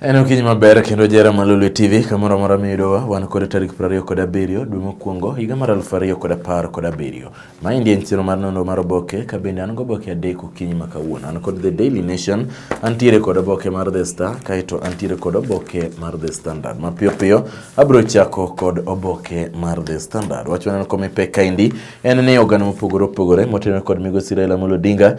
En okinyi maber kendo jera malulu TV kamoro amora miyudowa wan kod tarik 27 dwe mokwongo higa mar 2017. Maendi en chiro mar nono mar oboke ka bende an goboke adek okinyi ma kawuono. An kod The Daily Nation, antiere kod oboke mar The Star kaeto antiere kod oboke mar The Standard. Mapiyo piyo abiro chako kod oboke mar The Standard. Wach waneno kome pek kaendi en ni oganda mopogore opogore motenore kod migosi Raila Amolo Odinga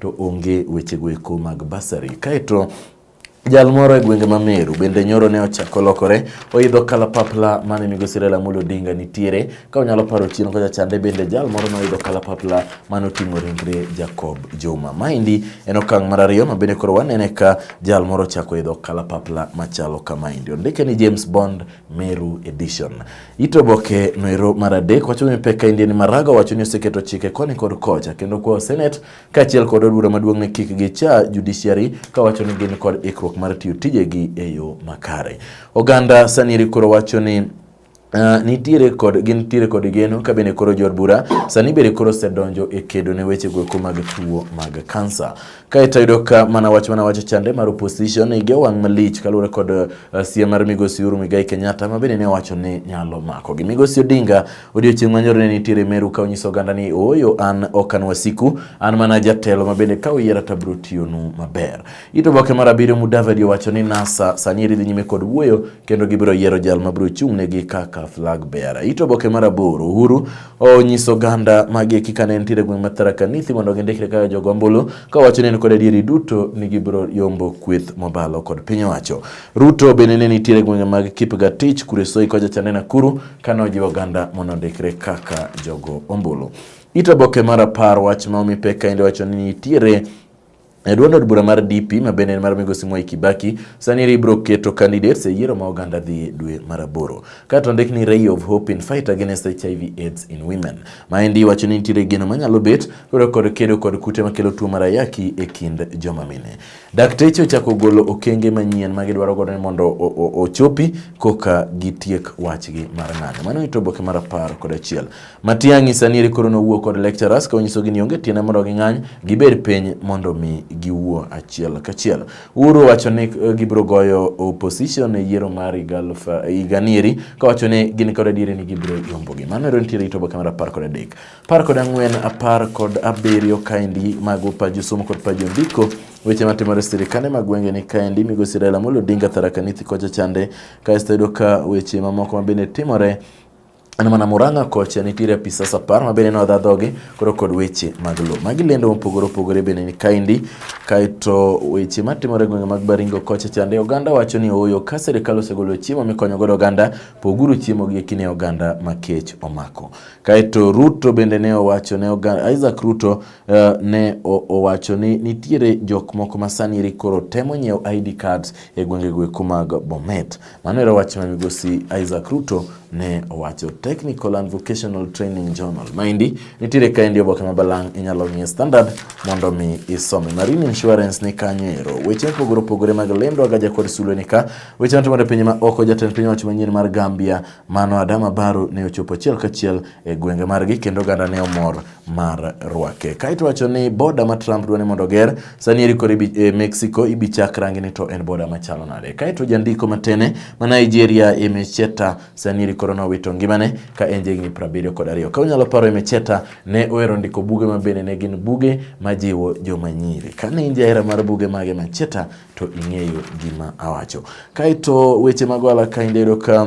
to onge wechego eko mag basari. Kaeto Jal moro e gwenge ma Meru bende nyoro ne ochako lokore oidho kalapapla mane migosi Raila Amolo Odinga nitiere. Ka unyalo paro chien kocha chande bende jal moro ne oidho kalapapla mane oting'o ringre Jacob Juma. Maendi en okang' mar ariyo ma bende koro wanene ka jal moro ochako idho kalapapla machalo kamaendi. Ondike ni James Bond Meru Edition. It oboke no ero mar adek wacho ni pek ka Indian Maraga wacho ni oseketo chike koni kod kocha kendo kwa Senate kaachiel kod od bura maduong' ni kik gicha judiciary ka wacho ni gin kod ikruok mar tiyo tijegi e yo makare. Oganda sani eri koro wacho ni Uh, nitiere kod gin tiere kod geno ka bende koro jod bura sani bende koro osedonjo e kedo ne weche goeko mag tuo mag kansa. Kaeto yudo ka mana wach mana wacho chande mar opposition ige wang' malich kaluwore kod uh, eh, sia mar migosi Uhuru Muigai Kenyatta ma bende ne owacho ni nyalo mako gi migosi Odinga odiochieng' manyoro ne nitiere Meru ka onyiso oganda ni ooyo an ok an wasiku an mana jatelo ma bende ka uyiera to abiro tiyonu maber. Ito oboke mar abiriyo Mudavadi owacho ni NASA sani dhi nyime kod wuoyo kendo gibiro yiero jal ma biro chung'negi kaka flag bearer. Ito oboke mar aboro Uhuru onyiso oganda magi kika ne nitiere gweng' mar Tharaka Nithi mondo gindikre kaka jogo ombulu kawacho ni en kod adieri duto ni gibiro yombo kweth mobalo kod piny owacho. Ruto bende ne nitiere gwenge mag Kipgatich, Kuresoi kocha cha ne Nakuru kane ojiwo oganda mondo ondikre kaka jogo ombulu. Ito oboke mar apar wach ma omi pek kaende wacho ni nitiere E duond od bura mar DP ma bende en mar migosi Mwai Kibaki sani eri ibiro keto candidates e yiero ma oganda dhi dwe mar aboro. Ka to ndik ni Ray of Hope in Fight Against HIV AIDS in Women. Ma endi wacho ni nitiere geno manyalo bet lwedo kod kedo kod kute makelo tuo mar ayaki e kind joma mine. Dakteche ochako golo okenge manyien ma gidwaro godo ni mondo ochopi koka gitiek wachgi mar ng'anyo. Mano ito oboke mar apar kod achiel. Matiang'i sani eri koro nowuo kod lecturers ka onyisogi ni onge tiende mondo ging'any gibed piny mondo mi giwuo achiel kachiel. Uhuru wacho ni eh, gibiro goyo opposition e yiero mar higanieri eh, ka wacho ni gin kod adieri ni gibiro yombogi. Mano ero nitiere itoba kamera apar kod adek. Apar kod ang'wen, apar kod abiriyo kaendi mago paji somo kod paji ondiko weche matimore sirikande mag gwenge ni kaendi migosi Raila Amolo Odinga Tharaka Nithi kocha chande kaesto yudo ka weche mamoko mabende timore An mana Murang'a kocha nitiere apisas apar ma bende nodha dhoge koro kod weche mag lowo. Magi lendo mopogore opogore bende ni kaendi kaeto weche matimore e gwenge mag Baringo kocha chande oganda wacho ni ooyo ka sirikal osegolo chiemo mikonyo godo oganda poguru chiemo gi ekine oganda ma kech omako. Kaeto Ruto bende ne owacho ne oganda Isaac Ruto uh, ne owacho ni nitiere jok moko ma sani koro temo nyiewo ID cards e gwenge gweko mag Bomet. Mano era wach ma migosi Isaac Ruto ne owacho. Technical and Vocational Training Journal maendi nitiere kaendi oboke ma balang' inyalo ng'ie standard mondo mi isome. Marine Insurance ni kanyo ero. Weche mopogore opogore mag lendo agaja kod sulwe ni ka. Weche matimore e pinje ma oko jatend piny owacho manyien mar Gambia mano Adama Barrow ne ochopo achiel kachiel e gwenge margi kendo oganda ne omor mar rwake. Kaito wacho ni boda ma Trump dwani mondo ger sani eri kore e Mexico ibi chak rangi ni to en boda machalo nade. Kaito jandiko matene ma Nigeria Emecheta sani eri koro nowito ngimane ka en jegni 70 kod ariyo. Ka unyalo paro Emecheta ne ohero ndiko buge ma bende ne gin buge majiwo joma nyiri. Ka ne in jahera mar buge mage Macheta to ing'eyo gima awacho. Kaito weche mag wala ka indedo ka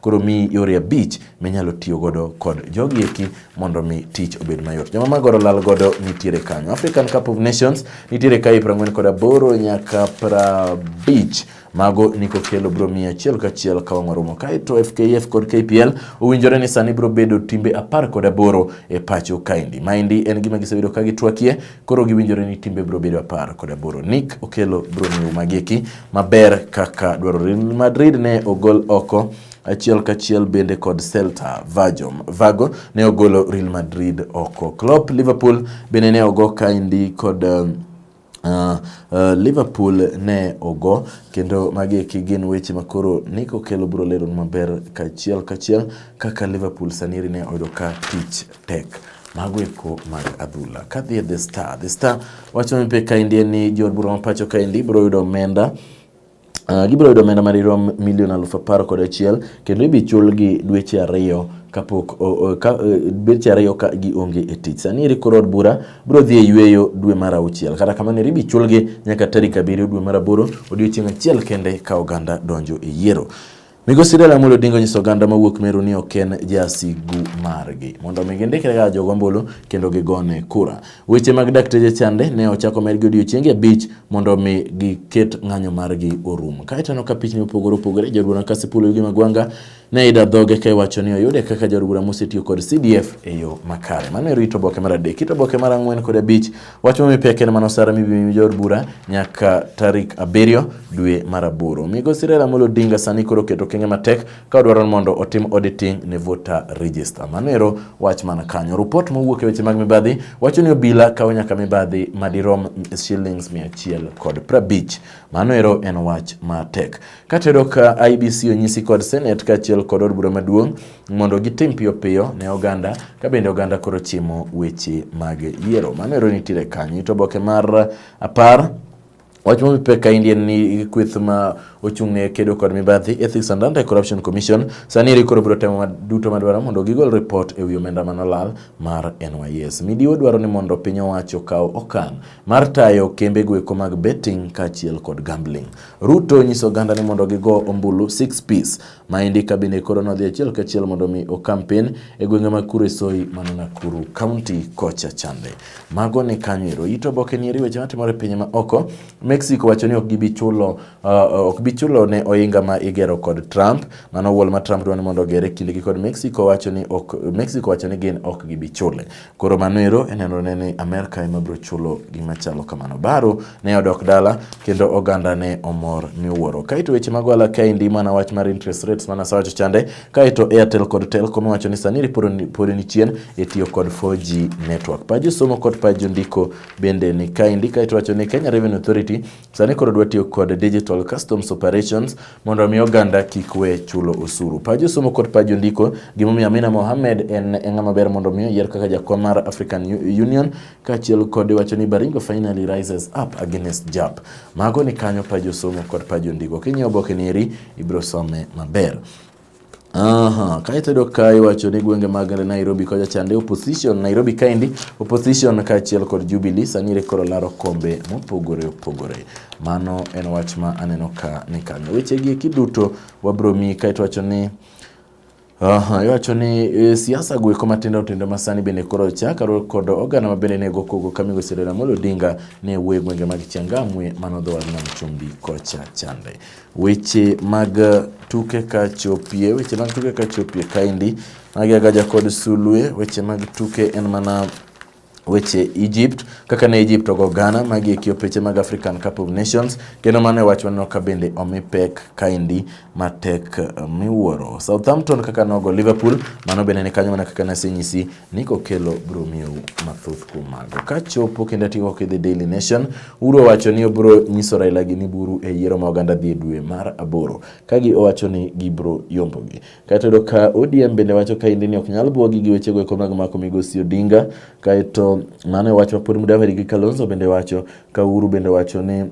Koro mi yore abich minyalo tiyo godo kod jogi eki mondo mi tich obed mayot. Joma magoro lal godo nitiere kanyo. African Cup of Nations nitiere kae 40 kod aboro nyaka 50 mago niko kelo bro mia achiel kachiel ka wang' warumo kae to FKF kod KPL owinjore ni sani bro bedo timbe apar kod aboro e pacho kaendi. Maendi en gima gisebedo ka gitwakie Koro giwinjore ni timbe biro bedo apar kod aboro. Nick Okello biro miyo mageki maber kaka dwarore. Madrid ne ogol oko achiel kachiel bende kod Celta Vigo. Vago ne ogolo Real Madrid oko. Klopp Liverpool bende ne ogo kaindi kod um, Uh, uh, Liverpool ne ogo kendo magi eki gin weche ma koro Nick Okello biro lero maber kachiel kachiel kaka Liverpool saniri ne oyudo ka tich tek mago eko mag adhula. Kadhi e The Star, The Star wacho ni pe kaendi en ni jood bura ma pacho kaendi biro yudo omenda Uh, gibiro yudo omenda madirom milion aluf apar kod achiel kendo ibichulgi dweche ariyo kapok e, dweche ariyo ka gionge e tich. Sani eri koro od bura biro dhi e yueyo dwe mar auchiel. Kata kamano eri bichulgi nyaka tarik abiriyo dwe mar aboro, odiechieng' achiel kende ka oganda donjo e yiero. Migosi Raila Amolo Odinga onyiso oganda mawuok Meru ni ok en jasigu margi mondo omi gindikre kaka jogo ombulu kendo gigone kura. Weche mag dakteche chande ne ochako medgi odiechienge abich mondo omi giket ng'anyo margi orum. Kaeto aneno ka pichni opogore opogore jodwona Kasipul gi Magwanga ne ida dhoge ka iwacho ni oyude kaka jaod bura mosetiyo kod CDF e yo makare. Mano e rito oboke mar adek. Kit oboke mar ang'wen kod abich Wach momi pek en mano sara mibimi jood bura nyaka tarik abiriyo dwe mar aboro. Migosi Raila Amolo Odinga sani koro oketo okenge matek ka odwaro mondo otim auditing ne voter register. Mano ero wach man kanyo. Rupot mowuok e weche mag mibadhi wacho ni obila kawo nyaka mibadhi madirom shillings mia achiel kod prabich. Mano ero en wach matek. Katedo ka IBC onyisi kod Senate kaachiel kod od bura maduong' mondo gitim piyo piyo ne oganda ka bende oganda koro chimo weche mag yiero. Mano ero nitiere kanyo. Ito oboke mar apar Wach ma pek kaendi en ni kweth ma ochung' ne kedo kod mibadhi Ethics and Anti Corruption Commission sani eri koro biro temo duto madwaro mondo gigol ripot e wi omenda manolal mar NYS. Midiwo dwaro ni mondo piny owacho okaw okang' mar tayo kembe gweko mag betting kaachiel kod gambling. Ruto nyiso oganda ni mondo gigo ombulu 6 piece Maendi kabine koro nodhi achiel kachiel mondo mi okampen e gwenge mag Kuresoi mano Nakuru County kocha chande. Mago ni kanyo ero ito oboke ni eri weche matimore pinye ma oko. Mexico wacho ni ok gibi chulo uh, ok bi chulo ne oinga ma igero kod Trump. Mano wol ma Trump dwani mondo ogere kindegi kod Mexico wacho ni ok Mexico wacho ni gin ok gibi chule. Koro mano ero enenore ni Amerka ema biro chulo gima chalo kamano. Baro ne odok dala kendo oganda ne omor miwuoro. Kaito weche mag ohala kaendi mana wach mar interest rates mana sawacho chande. Kaito Airtel kod Telcom wacho ni sani pod ni chien e tiyo kod 4G network. Paju somo kod paju ndiko bende ni kaendi kaito wacho ni Kenya Revenue Authority Sani koro dwa tiyo kod digital customs operations mondo omi oganda kik we chulo osuru. Paj osomo kod paj ondiko gimomiyo Amina Mohamed en e ng'ama ber mondo omi oyier kaka jakom mar African Union kaachiel kod wacho ni Baringo finally rises up against JAP. Mago ni kanyo paj osomo kod paj ondiko. Kinyiewo oboke ni eri ibiro some maber. Aha, kaito yudo ka iwacho ni gwenge mag Nairobi kocha chande opposition Nairobi kaendi opposition kaachiel kod Jubilee sani rekoro laro kombe mopogore opogore. Mano en wach ma aneno ka ni kanyo. Weche gi kiduto wabro mi kaito wacho ni Aha, iwacho ni e, siasa goeko matindo tindo masani bende koro chaka kod oganda ma bende nego kogo ka migosi Raila Amolo Odinga ne wuoyo e gwenge mag Changamwe mano dho wadno Chumbi kocha chande. Weche mag tuke kachopie, weche mag tuke kachopie kaendi magi agaja kod sulwe. Weche mag tuke en mana weche Egypt kaka ne Egypt ogo Ghana magi e kiopeche mag African Cup of Nations kendo mano e wach waneno ka bende omi pek kaendi matek miwuoro. Southampton kaka nogo Liverpool mano bende ni kanyo mana kaka nasenyisi ni kokelo bro miyou mathoth kuom mago. Ka chopo kendo atigo kidhi Daily Nation, Uhuru owacho ni obro nyiso Raila gi ni buru e yiero ma oganda dhi e dwe mar aboro. Ka gi owacho ni gibro yombogi. Kaeto yudo ka ODM bende wacho ka indi ni ok nyal bwogi gi wechego eko mag mako migosi Odinga. Kaeto mano e wach ma pod Mudavadi gi Kalonzo bende wacho. Ka Uhuru bende wacho ni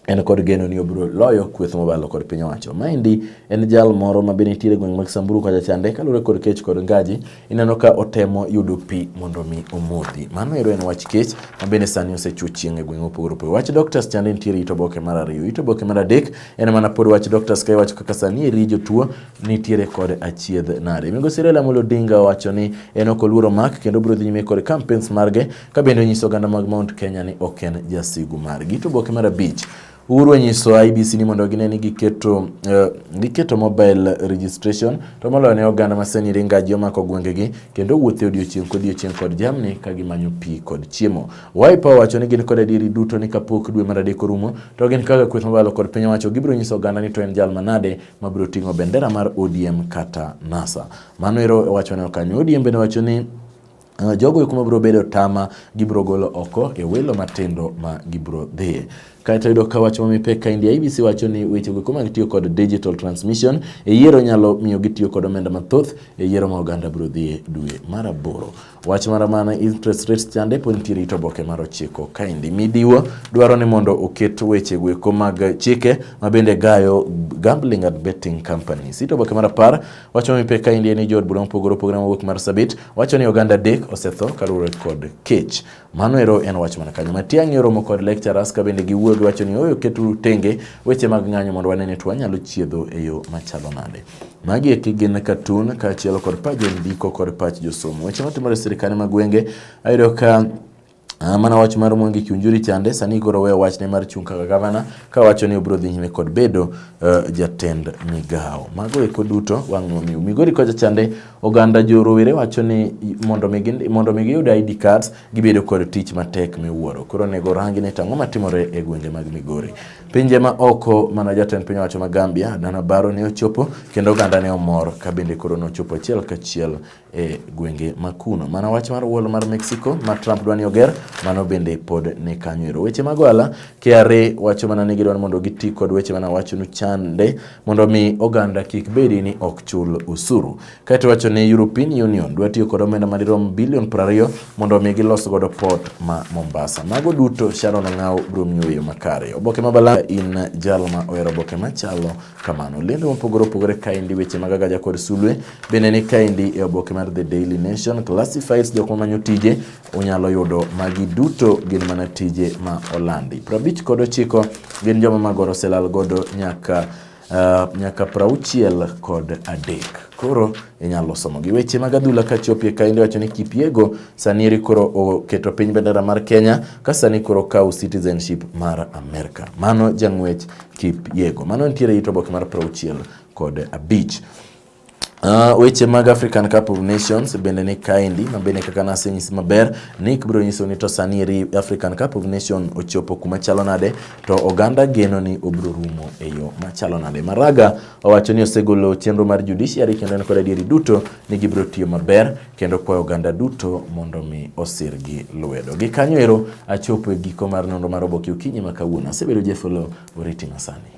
en kod geno ni obiro loyo kweth mobalo kod piny owacho. Maendi en jal moro ma bende nitiere gweng' mag Samburu kacha chande kaluwore kod kech kod ngaji ineno ka otemo yudo pi mondo mi omodhi. Mano ero en wach kech ma bende sani osechuo chieng' e gweng' mopogore opogore. Wach doctors chande nitiere ito boke mar ariyo. Ito boke mar adek en mana pod wach doctors ka iwacho kaka sani eri jotuo nitiere kod achiedh nade. Migosi Raila Amolo Odinga owacho ni en ok oluoro mak kendo obiro dhi nyime kod campaigns marge ka bende onyiso oganda mag Mount Kenya ni ok en jasigu margi. To boke mar abich Uhuru onyiso IBC ni mondo gine ni giketo uh, giketo mobile registration to moloyo ne oganda masani ringaji omako gwengegi kendo wuothe odiochieng' kodiochieng' kod jamni ka gimanyo pi kod chiemo. Wiper owacho ni gin kod adieri duto ni kapok dwe mar adek orumo to gin kaka kweth mabalo kod piny owacho gibiro nyiso oganda ni to en jal manade mabiro ting'o bendera mar ODM kata NASA. Mano ero owacho ne okanyo. ODM bende owacho ni Ah, jogo kuma biro bedo tama gibiro golo oko e welo matindo ma gibiro dhiye kaeto yudo ka wach mamipek ka India ABC wacho ni weche go kuma gitiyo kod digital transmission e yiero nyalo miyo gitiyo kod omenda mathoth e yiero ma oganda biro dhiye dwe mar aboro wach mara mana interest rates chande pod nitiere ito boke mar ochiko kaendi midiwo dwaro ni mondo oket weche go eko mag chike ma bende gayo gambling and betting companies ito boke mar apar wacho mamipek ka India ni jood bura mopogore opogore mawuok mar sabit Wacho ni oganda dek osetho kaluwore kod kech. Mano ero en wach mana kanyo. Matiang'i oromo kod lecturers ka bende giwuoyo giwacho ni oyo keturu tenge weche mag ng'anyo mondo wane ni to wanyalo chiedho e yo machalo nade. Magi eki gin katun kaachiel kod pach jondiko kod pach josomo. Weche matimore e sirkande mag gwenge ayudo ka Ah, mana wach mar Mwangi Kiunjuri chande sani koro weyo wachne mar chung' kaka gavana ka wacho ni obiro dhi nyime kod bedo uh, jatend migawo. Mago eko duto wang' momiu. Migori kocha chande oganda jorowere wacho ni mondo mi mondo mi giyud ID cards gibedo kod tich matek miwuoro. Koro nego rangi ne tang'o matimore e gwenge mag Migori. Pinje ma oko mana jatend piny owacho ma Gambia Dana Baro ne ochopo kendo oganda ne omor ka bende koro nochopo achiel kachiel e gwenge ma kuno. Mana wach mar wall mar Mexico ma Trump dwani oger, mano bende pod ni kanyo ero. Weche mag ohala, KRA wacho mana ni gidwani mondo giti kod weche mana wacho nu chande mondo mi oganda kik bedi ni ok chul usuru. Kaito wacho ni European Union dwa tiyo kod omenda ma dirom bilion 20 mondo mi gilos godo port ma Mombasa. Mago duto Sharon Ng'aw bro miyo makare. Oboke ma bala in jalma ohero oboke machalo kamano. Lendo mopogore opogore kaendi weche mag agaja kod sulwe bende ni kaendi e oboke mar The Daily Nation Classifieds jok mamanyo tije unyalo yudo magi duto gin mana tije ma olandi. Prabich kod ochiko gin joma magoro selal godo nyaka uh, nyaka prauchiel kod adek koro inyalo somo gi weche mag adhula ka chopie ka inde wacho ni Kipiego sani eri koro oketo piny bendera mar Kenya ka sani koro kawo citizenship mar Amerika. Mano jang'wech Kip Yego. Mano nitiere it oboke mar prauchiel kod abich. Uh, weche mag African Cup of Nations bende ni kaendi ma bende kaka nasenyisi maber ni biro nyiso ni to sani eri African Cup of Nations ochopo kuma chalo nade to oganda geno ni obiro rumo e yo machalo nade. Maraga owacho ni osegolo chenro mar judiciary kendo en kod adieri duto ni gibiro tiyo maber kendo kwayo oganda duto mondo mi osirgi lwedo. Gi kanyo ero achopo e giko mar nonro mar oboke okinyi ma kawuono. Asebedo Jeff Oloo, oriti masani.